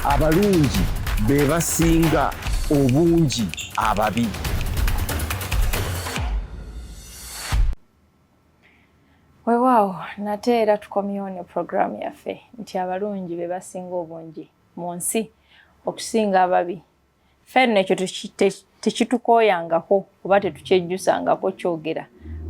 abalungi be basinga obungi ababi wewaawo nate era tukomyewo ne puroguraamu yaffe nti abalungi be basinga obungi mu nsi okusinga ababi ffe nno ekyo tekitukooyangako oba tetukyejjusangako kyogera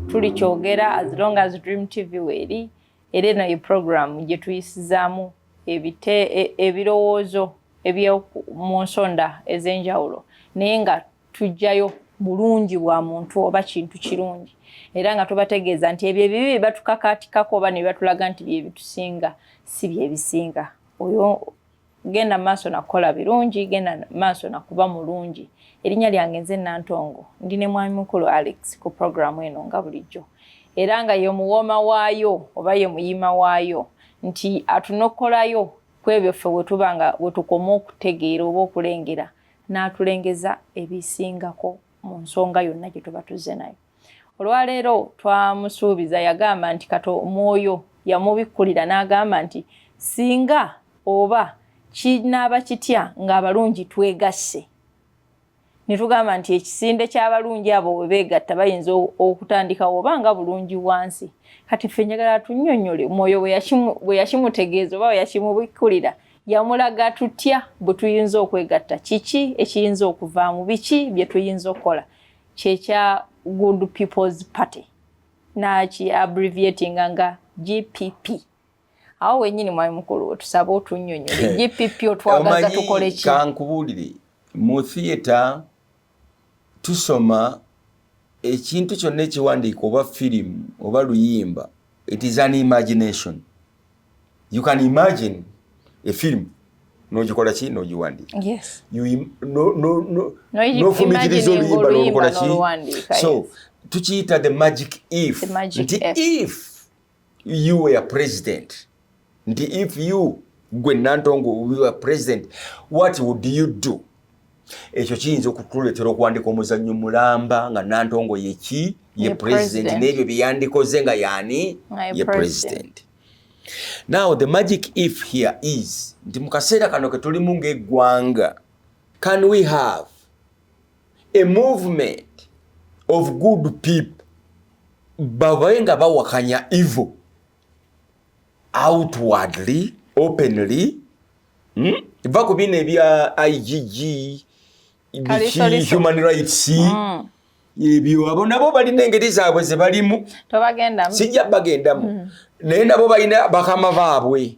tuli kyogera as long as dream tv weeri era eno ye puroguramu gye tuyisizaamu ebite e, ebirowoozo ebyomu nsonda ez'enjawulo naye nga tujjayo bulungi bwa muntu oba kintu kirungi era nga tubategeeza nti ebyo ebibi bye batukakaatikako oba ne batulaga nti bye bitusinga si bye bisinga oyo genda maaso nakukola birungi genda maaso nakuba mulungi erinnya lyange nze nantongo ndi ne mwami mukulu alex ku puroguramu eno nga bulijjo era nga ye muwooma waayo oba ye muyima waayo nti atunokolayo ku ebyo ffe wetuba nga wetukoma okutegeera oba okulengera n'atulengeza ebisingako mu nsonga yonna gye tuba tuzze nayo olwaleero twamusuubiza yagamba nti kato omwoyo yamubikkulira n'agamba nti singa oba kinaaba kitya ng'abalungi twegasse ne tugamba nti ekisinde ky'abalungi abo we beegatta bayinza okutandikawo oba nga bulungi wansi kati ffe njagala tunnyonnyole omwoyo bwe yakimutegeeza oba bwe yakimubikkulira yamulaga tutya bwe tuyinza okwegatta kiki ekiyinza okuvaamu biki bye tuyinza okukola kyekya good people's party naki abbreviating nga gpp awo wenyini mwami mukulu wetusaba otunyonyole gpp otwagaza tukole ki kankubuulire mu theatre tusoma ekintu kyonna ekiwandiika oba firimu oba luyimba it is an imagination you can imagine a film nogikola ki nogiwandiika nofumikiriza oluyimba nolukola ki so tukiyita the magic if nti if you were president nti if you gwe nantongo we were president what would you do ekyo kiyinza okutuleetera okuwandika omuzannyo mulamba nga nantongo yeki ye president n'ebyo byeyandikoze nga yaani ye president now the magic if here is nti mu kaseera kano ke tulimu ng'eggwanga can we have a movement of good people babaye nga bawakanya evil outwardly openly hmm? va ku bino ebya igg human rights mm. ebyo abo nabo balina engeri zaabwe zebalimu sijja bagendamu mm. naye nabo balina bakama baabwe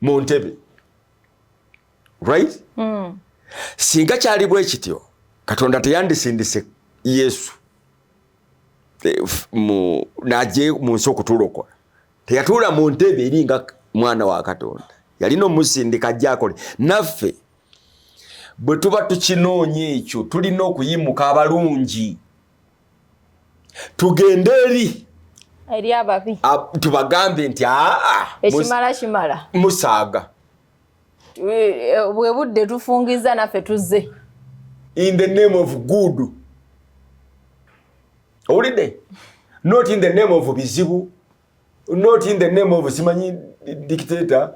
mu ntebe right mm. singa kyali bwe kityo katonda teyandisindise yesu eh, naje mu nsi okutulokola teyatuula mu ntebe eri nga mwana wa katonda yalina omusindika jakole naffe bwe tuba tukinoonya ekyo tulina okuyimuka abalungi tugende eri eri ababi tubagambe nti aa ekimala kimala musaaga e, bwe budde tufungiza naffe tuzze in the name of good owulidde not in the name of bizibu not in the name of simanyi dictator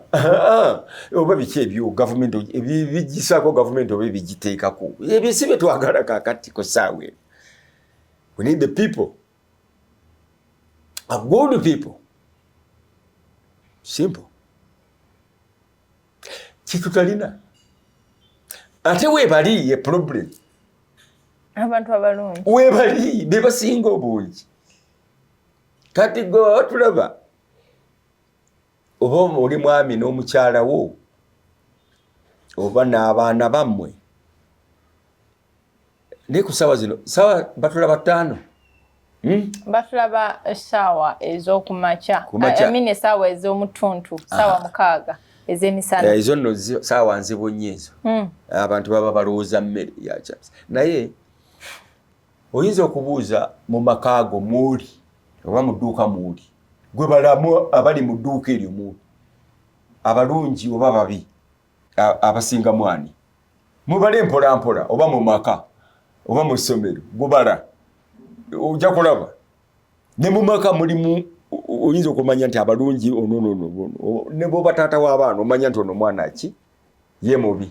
oba biki ebyo gavumenti ebigisaako gavumenti oba ebigiteekako ebyo si bye twagala kakati ku saawa eno we need the people a good people simple kyetutalina ate webali ye problem abantu abalungi webali bebasinga obungi kati gwe baba tulaba oba oli mwami n'omukyala wo oba n'abaana bammwe naye ku saawa zino saawa batula bataano hmm? batulaba esaawa ez'okumakya esaawa ez'omutuntu saawa ah. mukaaga ezemisana eh, ezo nno saawa nzibu nnyo ezo hmm. abantu baba balowooza mmere yakyasa naye oyinza okubuuza mu maka ago muuli oba mu dduuka muuli gwe balamu abali mu dduuka eryo muuli abalungi oba babi abasinga mwani mubale mpolampola oba mu maka oba mu ssomero gubala ojja kulaba ne mu maka mulimu oyinza okumanya nti abalungi ononono ne bwoba taata w'abaana omanya nti ono mwana ki ye mubi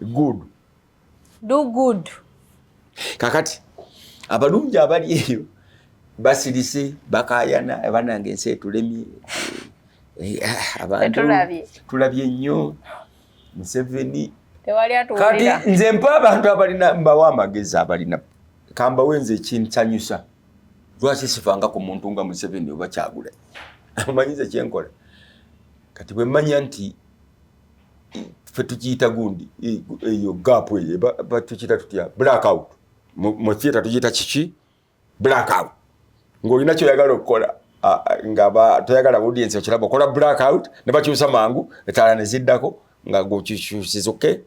good do good kakati abalungi abali eyo basirise bakayana abanange ensi etulemye eh, ah, abantu tulabye nnyo museveni kati nze mpa abantu abalina mbawa amagezi abalina kambawe nze ekinsanyusa lwaki sifanga ku muntu nga museveni oba kyagula amanyize kyenkola kati bwemanya nti fe tukiyita gundi eyo gaapu eyo batukiyita tutya black out mu theatre tukiyita kiki black out ng'olina kyoyagala okukola nga toyagala audience okiraba okola black out ne bakyusa mangu etaala ne ziddako nga gwokyukyusiza oke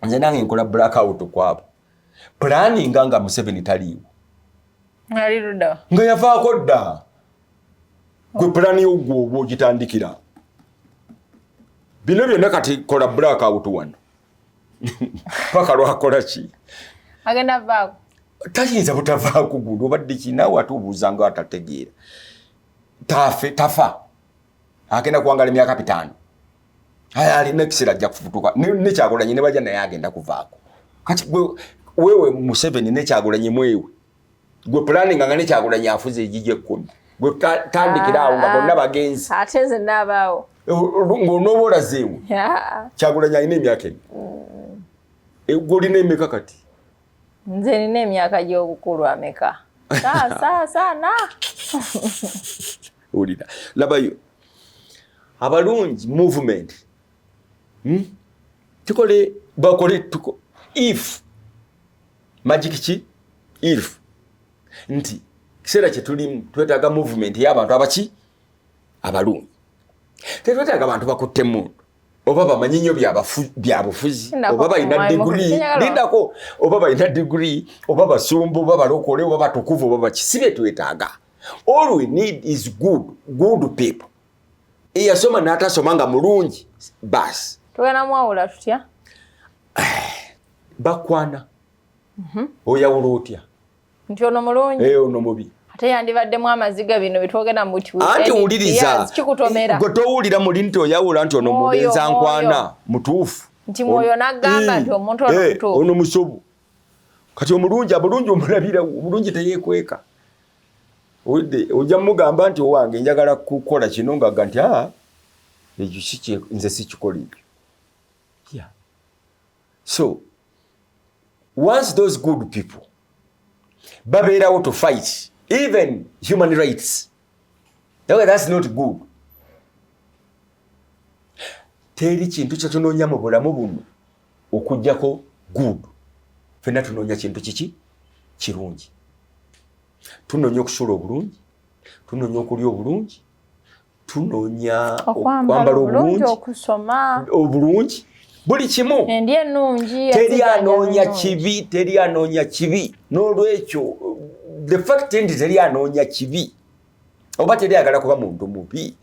nze nange nkola black out kwabo planning nga museveni taliiwo nga yavaako dda gwe pulani yogwo oba ogitandikira bino byonna kati kola black out wano paka lwakola ki agenda vaako tayinza butavaako gundi obadde kinaawe ate obuuza nga atategeera tafe tafa agenda kuwangala emyaka bitaano Aya alina ekiseera ajja kufutuka ne Kyagulanyi ne baja naye agenda kuvaako. Kati gwe wewe Museveni ne Kyagulanyi mwewe. Gwe planning nga ne Kyagulanyi afuze ejije kkumi. Gwe tandikira awo nga ah, bonna bagenzi. Ate nze nabaawo. Ng'onooba olazeewo. Kyagulanyi alina emyaka emi. Mm. E, gwe olina emeka kati? Nze nina emyaka gy'obukulu ameka? Saa saa saa na. wulira labayo abalungi movement hmm? tukole bakole tuko if magic ki if nti kiseera kyetulimu twetaaga movement yabantu abaki abalungi tetwetaaga bantu bakutte mundu oba bamanyi nyo byabufuzi oba balina digri lindako oba balina digri oba basumbu oba balokole oba batukuvu oba baki si byetwetaaga all we need is good good people eyasoma natasoma nga mulungi bas tugenda mwawula tutya bakwana mhm. oyawula otya nti ono mulungi eh, ono mubi ate yandibaddemu amaziga bino bitwogera muanti wuliriza gwe towulira muli nti oyawula nti ono mubenza nkwana mutuufu nti mwoyo nagamba nti omuntu ono eh, musobu kati omulungi abulungi omulabira omulungi teyekweka owedde ojja mugamba nti owange njagala kukola kino ngaga nti a ah, ekyo kiki nze sikikola ekyo yeah. so once those good people babeerawo to fight even human rights That, that's not good. Teri kintu kye tunoonya mu bulamu buno okujjako good. Fenna tunoonya kintu kiki kirungi. Tunoonya okusula obulungi, tunoonya okulya obulungi, tunoonya okwambala obulungi, okusoma obulungi. buli kimu teri anoonya kibi teri anoonya kibi n'olwekyo the fact nti teri anoonya kibi oba teri agala kuba muntu mubi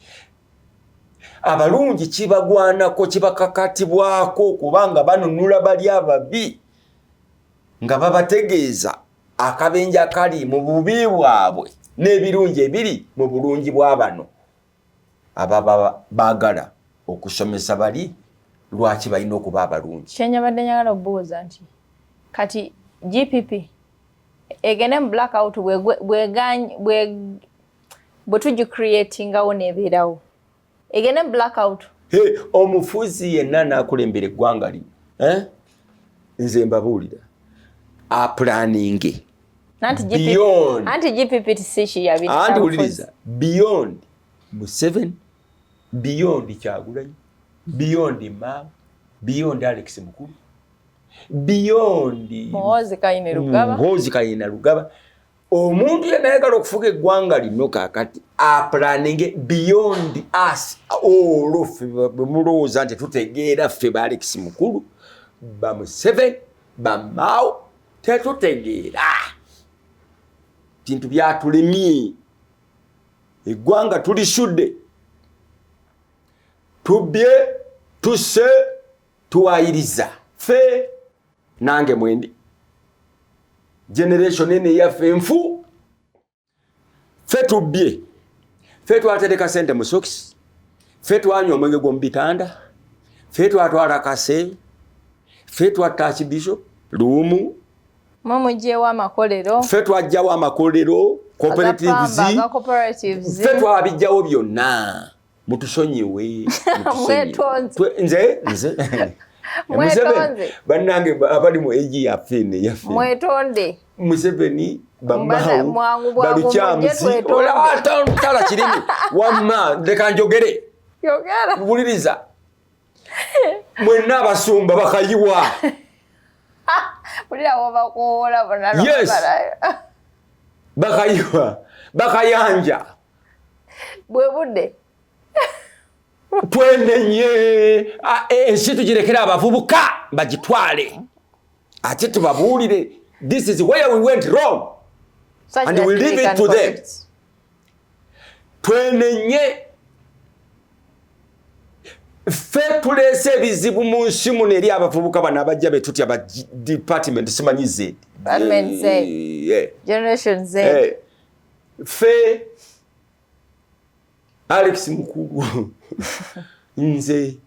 abalungi kibagwanako kibakakatibwako kubanga banunula bali ababi nga babategeeza akabenja kali mu bubi bwabwe n'ebirungi ebiri mu bulungi bwa bano ababa baagala okusomesa bali lwaki balina okuba abalungi kyenyabadde nyagala obuuza nti kati gpp egende mu black out bwetugicreatingawo nebeerawo egende mu black out omufuzi yenna nakulembera eggwanga lino eh? nze mbabuulira apulaninge anti beyond anti GPP tisishi ya bina anti uliliza beyond Museven beyond Kyagulanyi beyond Mao beyond Alex Mukulu beyond Muhozi Kayine Lugaba Muhozi Kayine Lugaba omuntu yena yagala okufuga eggwanga lino kakati aplaninge beyond us olwo ffe bemulowooza nti tutegeera ffe ba Alex Mukulu ba Museven bamao tetutegeera bintu byatulemye eggwanga tulisudde tubbye tusse tuwayiriza fe nange mwendi generation ene yaffe nfu fe tubbye fe twatereka sente mu sokisi fe twanywa omwenge gw'omu bitanda fe twatwala kase fe twatta akibiso luumu mumugyewo amakolero fe twajjawo amakolero cooperatives fe twabijjawo byonna mutusonyiwe nze nze museveni bannange abali mu egi yafe ne yafe mwetonde museveni bamawu balukyamuzi olawatala kirimi wamma leka njogere wuliriza mwenna abasumba bakayiwa yes bakayiwa bakayanja bwe budde twenenye ensi tugirekere abavubuka bagitwale ate tubabuulire this is where we went wrong Such and we leave it to them twenenye ffe tuleese ebizibu mu nsi muno eri abavubuka bano abajja betutya ba department simanyi zedi eh, eh. ffe alex mukulu nze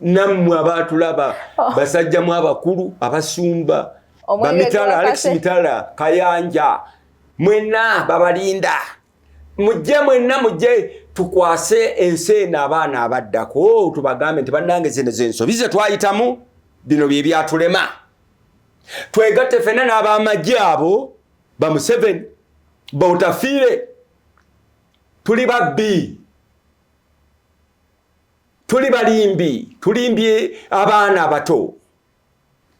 nammwe abaatulaba oh. basajjamu abakulu abasumba bamitala alex mitala kayanja mwenna babalinda mujje mwenna mujje tukwase ensi eno abaana abaddako tubagambe nti bannange zino zensobi ze twayitamu bino bye byatulema twegatte fenna n'abamagye abo bamuseveni bautafiire tuli babbi tuli balimbi tulimbye abaana abato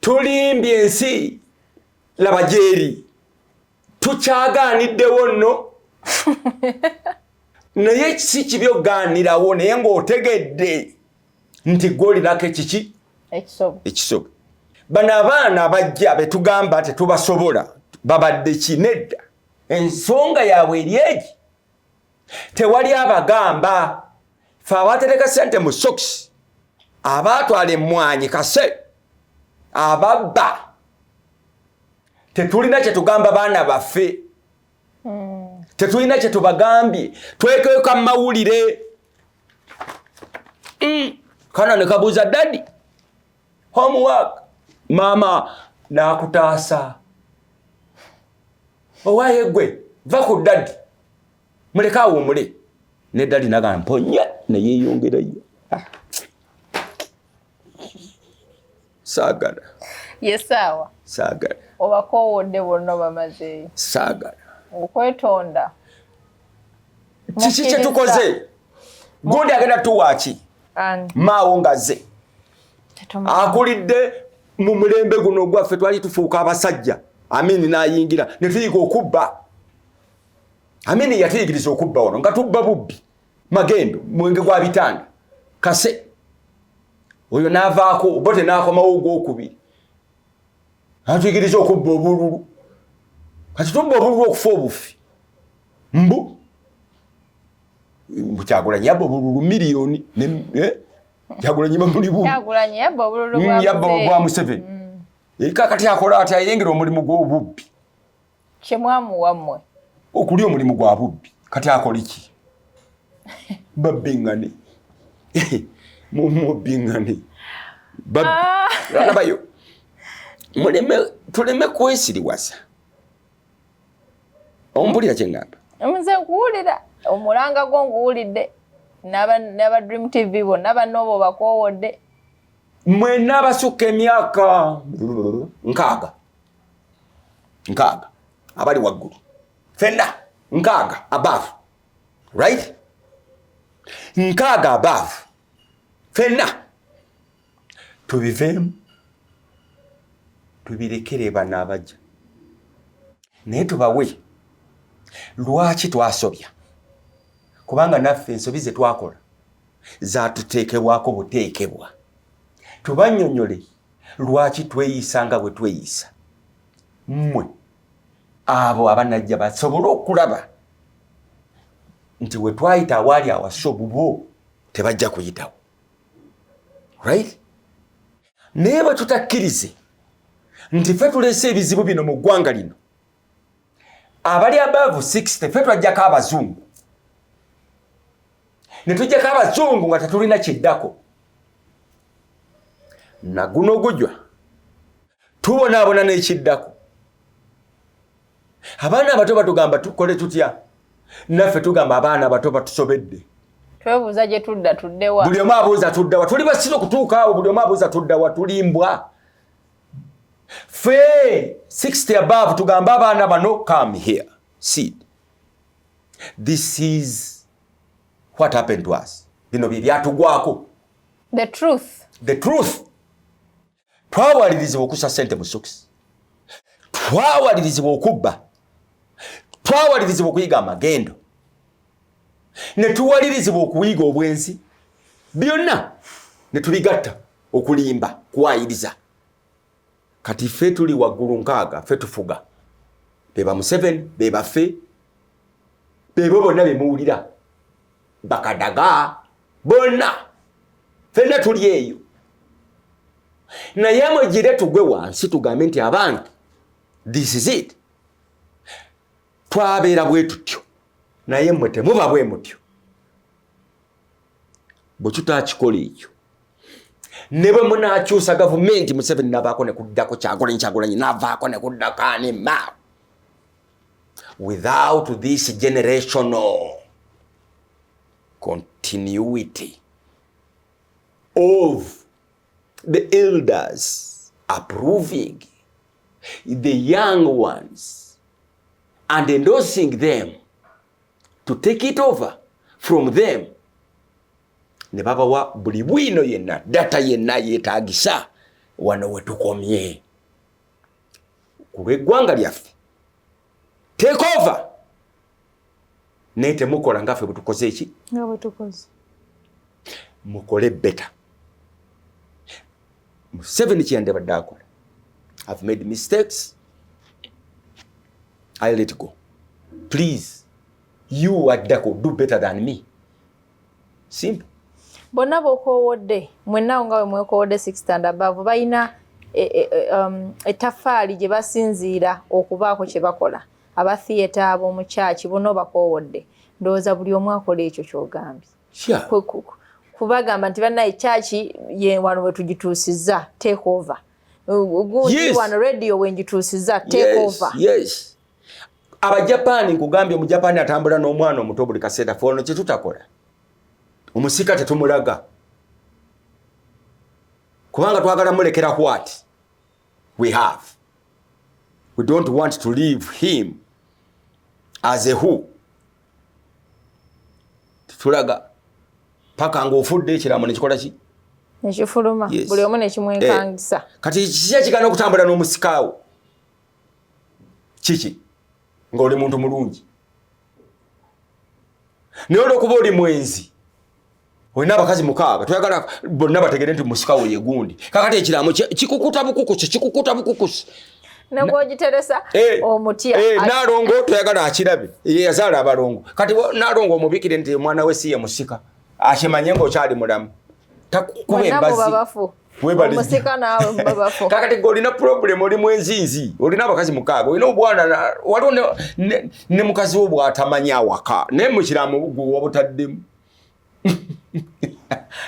tulimbye ensi laba gyeri tukyagaaniddewo nno naye si kibi okugaanirawo naye ng'otegedde nti gwolinako ekiki ekisobo bano abaana abajja betugamba tetubasobola babadde kinedda ensonga yaabwe eri egi tewali abagamba fe abatereka sente mu soks abatwala emwanyi kase ababba tetulina kyetugamba baana baffe hmm. tetulina kyetubagambye twekeka mumawulire mm. kana nekabuuza dadi homework maama nakutaasa owaye gwe va ku dadi muleke awumule ne dadi nagamponye neyeyongerayo ah. saagala ye saawa saagala obakoowodde bonna obamazeeyo saagala okwetonda kiki kyetukoze gundi agenda tuwaaki maawo ngaze akulidde mu mulembe guno ogwaffe twali tufuuka abasajja amini nayingira netuyiga okubba amini yatuyigiriza okubba wano nga tubba bubbi magendo mwenge gwa bitanda kase oyo navaako obote nakomawo ogwokubiri atuyigiriza okubba obululu kati tubba obululu okufa obufi mbu kyagulanyi yabba obululu miliyoni eh? kyagulanyi bamuli bu yabba obwa museveni mm. eh, kakati akola ati ayengera omulimu gwobubbi kye mwamuwa mmwe okulya omulimu gwa bubbi kati akoliki babbingane mumubbingane ah. alabayo muleme tuleme kwesiriwasa ompulira kyengamba nze nkuwulira omulanga gwo nguwulidde naba dream tv bonna banoobo bakowodde mwena abasukka emyaka nkaaga nkaaga abali waggulu fenna nkaaga above right nkaaga above fenna tubiveemu tubirekere bano abajja naye tubawe lwaki twasobya kubanga naffe ensobi ze twakola zatuteekebwako buteekebwa tubanyonyole Lwaki tweyisa nga bwe tweyisa? Mmwe abo abanajja basobole okulaba nti we twayita awaali awasa obubo tebajja kuyitawo right naye bwe tutakkirize nti fe tuleese ebizibu bino mu ggwanga lino abali above 60 fe twajjako abazungu ne tujjako abazungu nga tetulina kiddako naguno gujwa tubonaabona n'ekiddako abaana abato batugamba tukole tutya naffe tugamba abaana abato batusobedde twebuuza gye tudda tuddewa buli omu abuuza tuddawa tuli basiru okutuukaawo buli omu abuuza tuddawa tulimbwa fee 60 above tugambe abaana bano come here seed this is what happened to us bino bye byatugwako the truth the truth twawalirizibwa okusa sente mu sokisi twawalirizibwa okubba twawalirizibwa okuyiga amagendo ne tuwalirizibwa okuyiga obwenzi byonna ne tubigatta okulimba kuwayiriza kati ffe tuli waggulu nkaaga ffe tufuga be ba museveni be baffe bebo bonna be muwulira bakadaga bonna fenna tuli eyo naye mwegire tugwe wansi tugambe nti abantu this is it twabeera bwe tutyo naye mwe temuba bwe mutyo bwe tutakikola ekyo ne bwe munakyusa gavumenti museveni navaako ne kuddako kyagulanyi kyagulanyi navaako ne kuddako anima without this generational continuity of the elders approving the young ones and endorsing them to take it over from them ne babawa buli bwino yenna data yenna yetagisa wano wetukomye ku lweggwanga lyaffe take over naye temukola nga ffe bwetukoze eki mukole beta museveni kyeyande badde akola have made mistakes i let go please you addako do better than me simple bonna bokoowodde mwennawo nga we mwekoowodde six and above balina e, e, e, um, ettaffaali gye basinziira okubaako kye bakola aba theatre ab'omu kyaki bonna obakoowodde ndowooza buli omu akola ekyo kyogambye kubagamba nti bannaye kyaki ye wano we tugituusizza take over gundi wano radio we ngituusizza take over abajapaani nkugambye omujapaani atambula n'omwana omuto buli kaseera fe ono kyetutakola omusika tetumulaga kubanga twagala mulekera what we have we don't want to leave him as a who tetulaga paka ngaofudde ekiramu nekikola ki nekifuluma buli omu nekimwekangisa eh, kati kiki ekigana okutambula n'omusikaawo kiki ng'oli muntu mulungi naye olwokuba oli mwenzi olina abakazi mukaaga toyagala bonna bategere nti musika wo yegundi kakati ekiraamo kikukuta bukukusi kikukuta bukukusi nagwogiteresa eh, omutya eh, nalongo toyagala akirabe yeyazaala abalongo kati nalongo omubikire nti omwana we si ye musika akimanye ngaokyali mulamu takukuba embazi kakati gwe olina problem oli mwenzinzi olina abakazi mukaaga olina obwana waliwo ne mukazi wo bwatamanya awaka naye mukiramu gwe wabutaddemu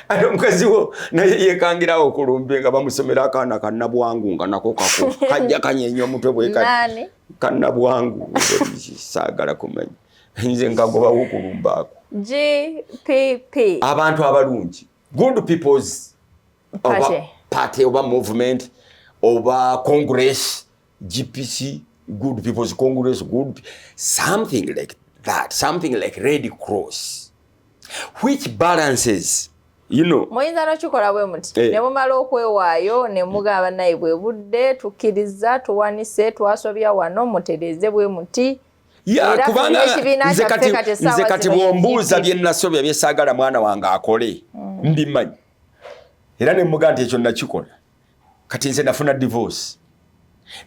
ate omukazi wo naye yekangirawo okulumbe nga bamusomera akaana kanabwangu nga nako kako kajja kanyenya omutwe bwekati kanabwangu saagala kumanya nze nkagobawo okulumbaako abantu abalungi good people's party, party oba movement oba congress gpc good people's congress good something like that something like red cross which balances you know muyinza nokikola bwe muti eh. ne mumala okwewaayo ne mugamba naye bwe budde tukkiriza tuwanise twasobya wano mutereeze bwe muti ya kubanga nze kati nze kati bwombuuza bye nasobya bye saagala mwana wange akole mm. ndi manyi era ne muga nti ekyo nakikola kati nze nafuna divorce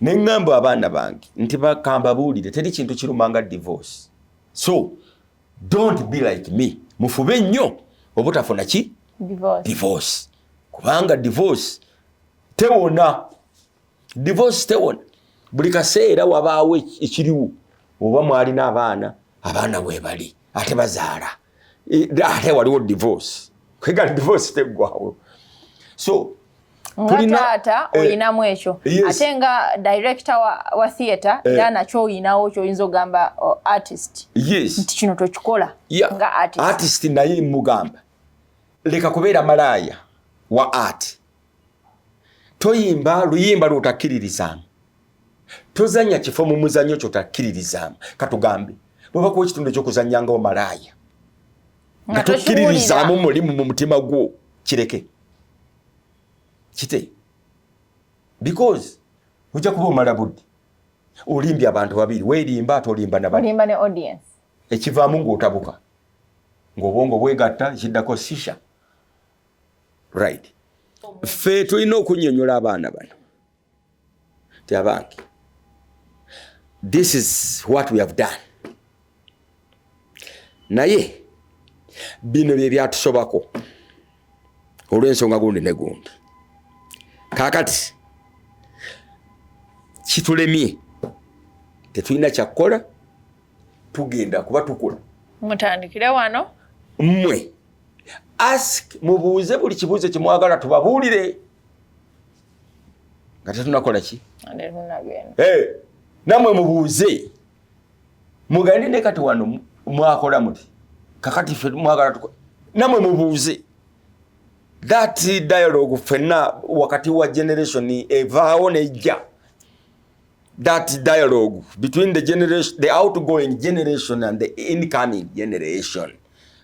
ne ngambo abaana bange nti bakamba buulire teri kintu kirumanga divorce so don't be like me mufube nnyo obutafuna ki divorce, divorce. kubanga divorce tewona divorce tewona buli kaseera wabaawo ekiriwo oba mwalina abaana abaana webali ate bazaala e, ate waliwo divorce kwegala divorce teggwawo so ngataata eh, olinamu ekyo ate nga director wa, wa theatre eh. era nakyo oyinawo kyoyinza ogamba artist yes. nti kino tokikola yeah. nga artist, artist naye mugamba leka kubeera malaaya wa art toyimba luyimba lwotakkiririzaamu tozanya kifo mu muzanyo kyotakkiririzaamu katugambe bwebakuwa ekitundu ekyokuzanya nga omalaaya nga tokkiririzaamu mulimu mu mutima gwo kireke kite because ojja kuba omala budde olimbye abantu babiri werimba ate olimba nabalimba ne audience ekivaamu ng'otabuka ng'obwongo bwegatta ekiddako sisha right ffe tulina okunyonyola abaana bano ti abange this is what we have done naye bino bye byatusobako olw'ensonga gundi ne gundi kaakati kitulemye tetulina kyakukola tugenda kuba tukula mutandikire wano mmwe ask mubuuze buli kibuuzo kyemwagala tubabuulire nga tetunakola ki namwe mubuuze mugende ne kati wano mwakola muti kakati fe mwagala tuko namwe mubuuze that dialogue fenna wakati wa generation evaawo nejja that dialogue between the generation the outgoing generation and the incoming generation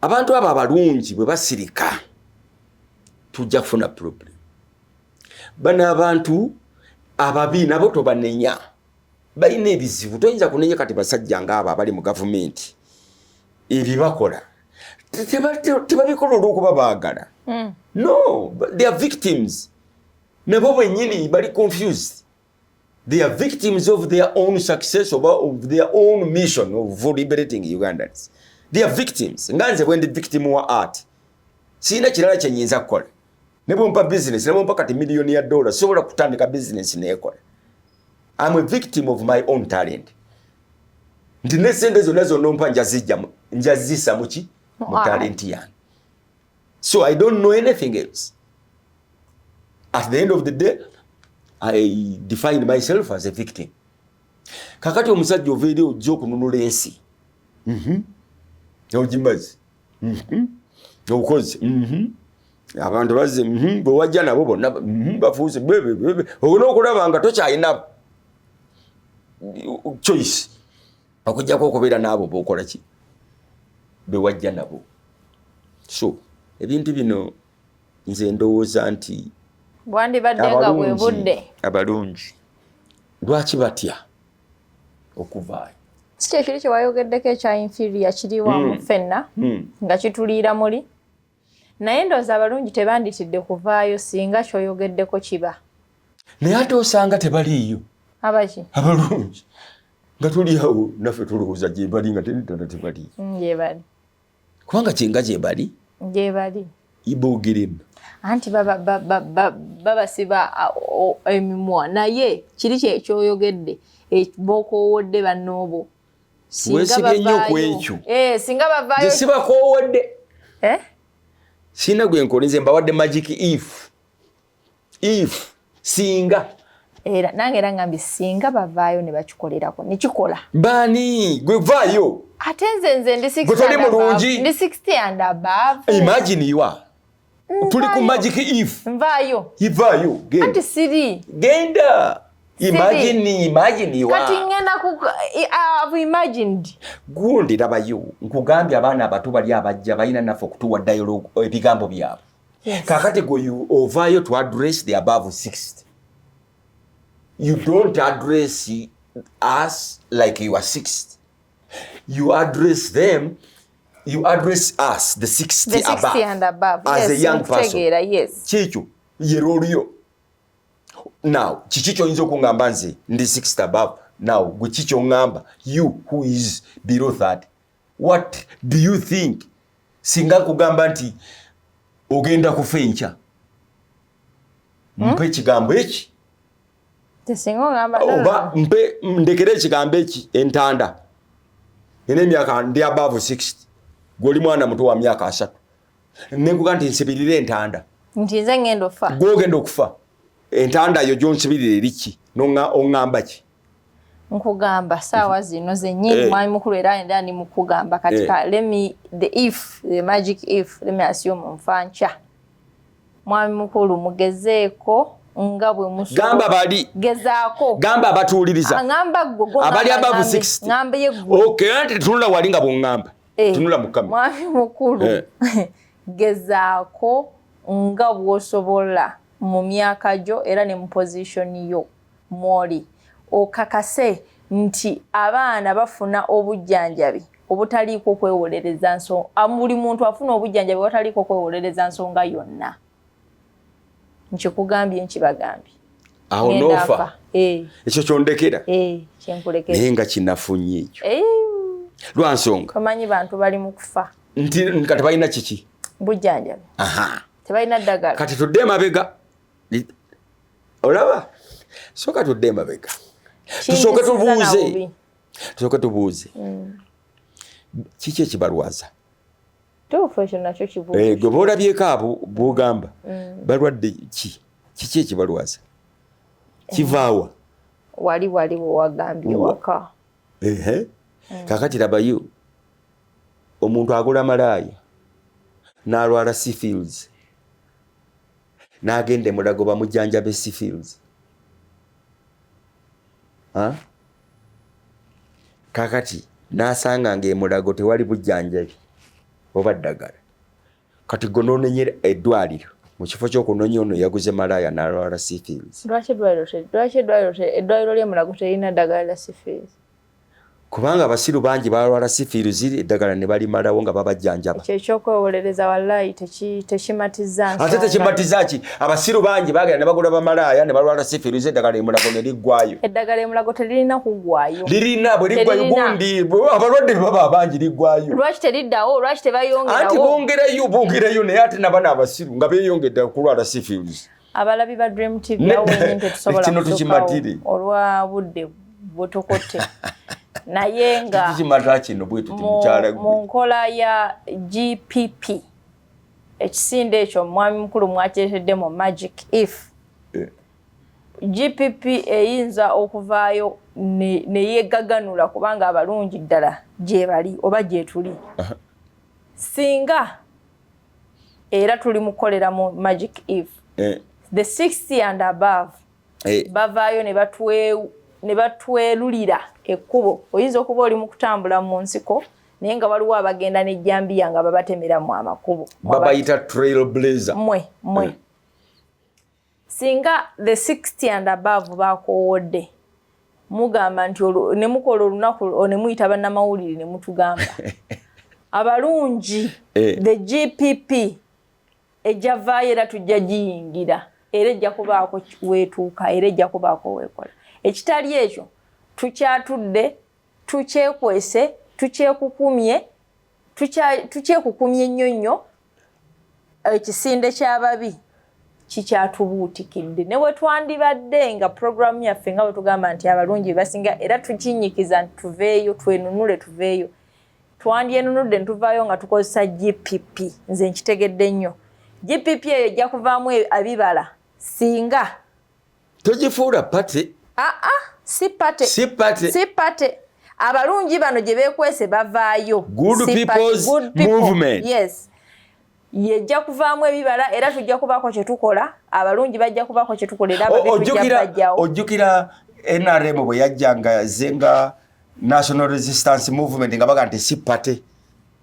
abantu abo abalungi bwe basirika tujja kufuna problem bano abantu ababi nabo tobanenya balina ebizibu toyinza kunenya kati basajja ngaabo abali mu gavumenti ebibakola tebabikola olwokuba baagala hmm. no they are victims nabo bwenyini bali confused They are victims of their own success or of their own mission of liberating Ugandans. They are victims. Nga nze bwendi victim wa art. Sina kirala kye nyinza kukola. Ne bwompa business, ne bwompa kati million ya dollar, sobola kutandika business nekola. I'm a victim of my own talent. Ndi ne sente zonna zonna ompa njazijja njazisa muki mu talent yange. so i don't know anything else at the end of the day i defined myself as a victim kakati omusajja ova eri ojja okununula ensi mhm. ogimazi mhm. obukozi mhm. abantu bazze bwewajja nabo bonna bafuuse olina okulaba nga tokyalina choice okujjako okubeera n'abo bokola ki bewajja nabo so ebintu bino nze ndowooza nti bwandibadde nga bwe budde abalungi lwaki batya okuvaayo si kyekiri kyewayogeddeko ekya inferior kiriwamu hmm. fenna hmm. nga kituliira muli naye ndowooza abalungi tebanditidde kuvaayo singa kyoyogeddeko kiba naye ate osanga tebaliiyo abaki abalungi nga tuli awo naffe tulowooza gyebali nga teddala tebali mm, gyebali kubanga kyenga gyebali gyebali ibogeremu anti babasiba emimwa naye kiri kyekyoyogedde e, bokoowodde bannoobo wesibye nnyo ku ekyo eh, singa bavaayo sibakowodde eh? sirina gwe nkolinze mbawadde magic if if singa era nange era ngambye singa bavaayo ne bakikolerako ne kikola baani gwe vaayo ate nze nze ndi 60 ndi 60 and above imagine you are tuli ku magic if nvayo ivayo genda anti siri genda imagine imagine you kati ngenda ku i've imagined gundi labayo nkugambye abaana abato bali abajja bayina nafo kutuwa dialogue eh, ebigambo byabo yes. kakati go you ovayo to address the above 60 you don't address us like you are 60 you address them you address us the 60, the 60 above, and above as yes, a young person yes. kikyo ye role yo now kiki kyoyinza okungamba nze ndi 60 above now gwe kikyongamba you who is below 30 what do you think singa kugamba nti ogenda kufa enkya hmm? mpa ekigambo eki oba mpe ndekere ekigambo eki entanda nina emyaka ndi above 60 gwoli mwana muto wa myaka asatu nenkuga nti nsibirire entanda gwogenda okufa entanda yo gyonsibirira eriki noŋamba ki nkugamba saawa zino zenyini hey. Eh. mwami mukulu era enda ni mukugamba kati hey. Eh. let me the if the magic if let me assume nfa nkya mwami mukulu mugezeeko nga bwe musgamba bali gezaako gamba abatuwuliriza aŋamba gwe abali abavu 60 ŋamba ye gwe okay anti tunula wali nga bw'oŋamba eh, tunula mu kamera mwami mukulu eh. gezaako nga bw'osobola mu myaka gyo era ne mu pozishoni yo mwoli okakase nti abaana bafuna obujjanjabi obutaliiko kwewolereza nsonga buli muntu afuna obujjanjabi wataliiko kwewolereza nsonga yonna nkikugambye nkibagambye awo nofa eh. ekyo kyondekera eh, naye nga kinafunye ekyo eh. lwansonga omanyi bantu bali mu kufa nti kati balina kiki bujjanjabi tebalina ddagala kati tudde emabega olaba soka tudde emabega tusooke tubuuze tusooke tubuuze mm. kiki ekibalwaza eh, gwe boolabyeko abo bwogamba mm. balwadde ki kiki ekibalwaza eh. kivaawa wali wali wewagambye waka mm. kakati labayo omuntu agula malaaya n'alwala seafields n'agenda emulago bamujanja besifields kakati n'asanga ngaemulago tewali bujjanjabi oba ddagala kati gwe nonenyera eddwaliro mu kifo kyokunonya ono yaguze malaaya nalwala sifields lwaki eddwaliro lyemulago terina ddagala la sifields Kubanga abasiru bangi balwala sifiiruzi eddagala ne balimalawo nga babajjanjaba. Ekyo eky'okwewolereza wallaahi tekimatizza nsonga. Ate tekimatizza ki? Abasiru bangi baagenda ne bagula bamalaaya ne balwala sifiiruzi eddagala e Mulago ne liggwaayo. Eddagala e Mulago teririna kuggwaayo. Lirina bwe liggwaayo gundi abalwadde bwe baba abangi liggwaayo. Lwaki teriddawo? Lwaki tebayongerawo? Anti bongerayo bongerayo naye ate nabano abasiru nga beeyongedde okulwala sifiiruzi. abalabi ba dream tv awo wenyini tetusobola kutukawo olwa budde butukutte naye nga mu nkola ya gpp ekisinde ekyo omwami mukulu mwakiretedde mu magic if eh. gpp eyinza okuvaayo neyegaganula kubanga abalungi ddala gyebali oba gyetuli singa era tuli mukukolera mu magic eve eh. the 60 and above eh. bavaayo ne batwelulira ekkubo oyinza okuba oli mu kutambula mu nsiko naye nga waliwo abagenda nejjambiya nga babatemeramu amakubo babayita trail blazer mwe mwe eh. singa the 60 and above bakowodde mugamba nti ne mukola olunaku ne muyita bannamawulire ne mutugamba abalungi eh. the gpp ejavaayo era tujja giyingira era ejja kubaako weetuuka era ejja kubaako weekola ekitali ekyo tukyatudde tukyekwese tukyekukumye tukyekukumye nnyo nnyo ekisinde eh, ky'ababi kikyatubuutikidde ne we twandibadde nga puroguramu yaffe nga bwe tugamba nti abalungi basinga era tukinyikiza nti tuveeyo twenunule tuveeyo twandyenunudde ne tuvaayo nga tukozesa gpp nze nkitegedde nnyo gpp eyo ejja kuvaamu ebibala singa togifuula pate aa ah, ah, si pate si pate si pate abalungi bano gye beekwese bavaayo good people's good people. movement yes yejja kuvaamu ebibala era tujja kubaako kye tukola abalungi bajja kubaako kye tukola era babitujjabajjawo ojjukira nrm bwe yajjanga ze nga national resistance movement nga baga nti si pate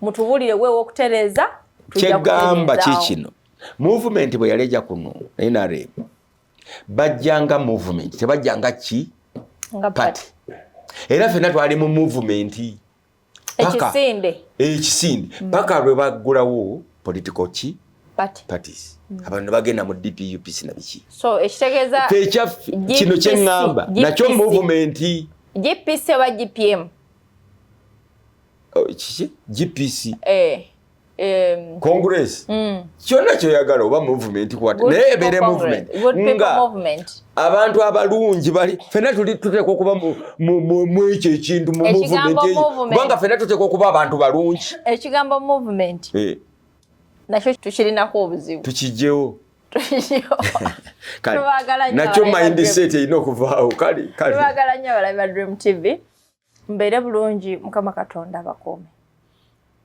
mutubulire wewe okutereza kyegamba kikino movement bwe yaleja kuno nrm bajjanga movement tebajjanga ki party era fena twali mu movement ekisinde ekisinde mm. paka lwe baggulawo political ki parties mm. abantu bagenda mu dpup sina biki so ekitegeeza ekyaffe kino kyeŋŋamba nakyo movement gpc oba gpm oh, kiki gpc eh, um, congress mm. kyonna kyoyagala oba movement kwata naye ebeere movement nga abantu abalungi bali fena tuli tuteekwa okuba mwekyo ekintu mu movement kubanga fena tuteekwa okuba abantu balungi ekigambo movement eh. nakyo tukirinako obuzibu tukijjewo nakyo mindset erina okuvaawo kale kale tubagala nnyo abalabi ba dream tv mbeere bulungi mukama katonda bakuume